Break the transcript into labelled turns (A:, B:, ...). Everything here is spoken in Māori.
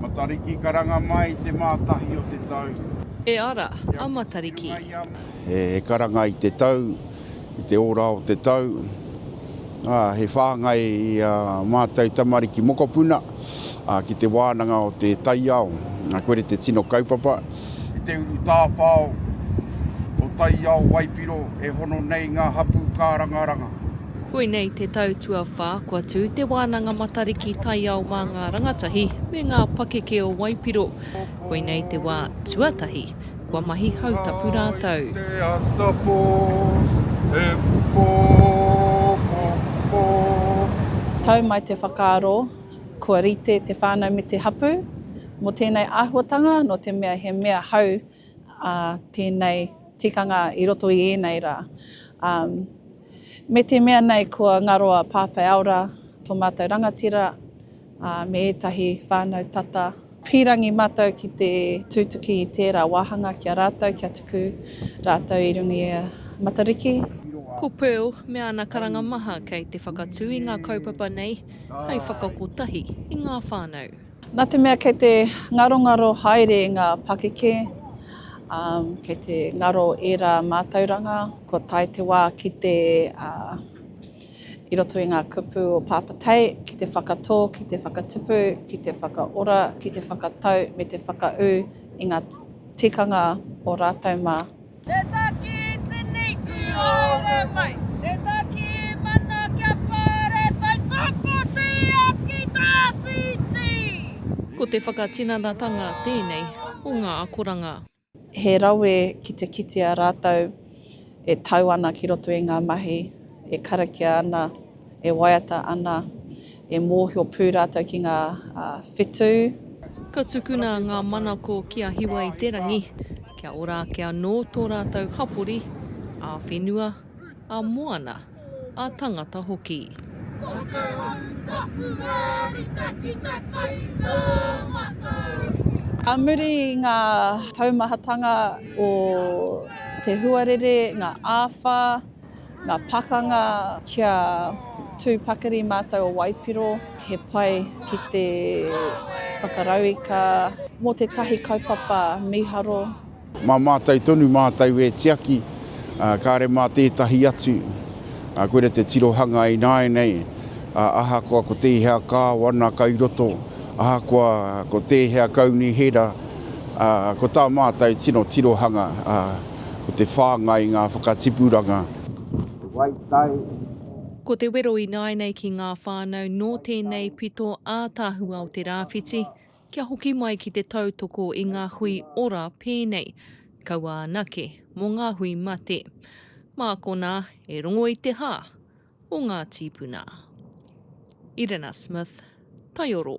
A: Matariki karanga mai i te Mātahi o te tau. E ara
B: a Matariki. He
A: karanga i te tau, i te ora o te tau. Ā, he whāngai i a mātou tamariki mokopuna ki te wānanga o te taiao. Koirei te tino kaupapa. Roberts i te uru tāwhao o Taiao Waipiro e hono nei ngā hapū kārangaranga. Koinei
B: te tau tuawhā kua tū Te Wānanga Matariki Taiao mā ngā rangatahi me ngā pakeke o Waipiro. Koinei te wā tuatahi kua mahi hautapu rātou. Te ata
A: pō, he pō, pō, pō.
C: Tau mai te whakaaro. Kua rite te whānau me te hapū mō tēnei āhuatanga nō te mea he mea hou tēnei tikanga i roto i ēnei rā. Me te mea nei kua ngaro a Pāpaiaora tō mātou rangatira me ētahi whānau tata. Pīrangi mātou ki te tūtuki i tērā wāhanga ki a rātou kia tuku rātou i runga i a Matariki. Ko Pearl
B: me ana karanga maha kei te whakatū i ngā kaupapa nei hai whakakotahi i ngā whānau. Nā te mea kei
C: te ngarongaro haere ngā pakeke, ā, kei te ngaro ērā mātauranga, kua tae te wā ki te, ā, i roto i ngā kupu o Pāpā Tei ki te whakatō, ki te whakatupu, ki te whakaora, ki te whakatau me te whakaū i ngā tikanga o rātou mā. Te taki
D: tini ki haere mai. Te taki mana kia pāretai whakoti aki tawhiti. Ko te
B: whakatinanatanga tēnei o ngā akoranga. He rawe
C: ki te kitea rātou e tau ana ki roto i ngā mahi, e karakia ana, e waiata ana, e mōhio pū rātou ki ngā whetū. Ka
B: tukuna ngā manako ki a Hiwa-i-te-rangi kia ora ake anō tō rātou hapori ā-whenua, ā-moana. ā-tangata hoki.
C: Ka muri i ngā taumahatanga o te huarere, ngā āwha, ngā pakanga kia tū pakari mātou o waipiro, he pai ki te whakarauika mō tētahi kaupapa mīharo. Mā mātou
A: tonu mātou e tiaki, ā, kāre mā tētahi atu, ā, koira te tirohanga ināianei, ā, ahakoa ko tēhea kāwana kai roto, ahakoa ko tēhea kaunihera, ā, ko tā mātou tino tirohanga, ā, ko te whāngai i ngā whakatipuranga. Te Waitai.
B: Ko te wero ināianei ki ngā whānau nō tēnei pito ātaahua o te rāwhiti, Kia hoki mai ki te tautoko i ngā hui ora pēnei, kaua anake mō ngā hui mate. Mā konā e rongo i te hā o ngā tīpuna. Irena Smith, Taioro.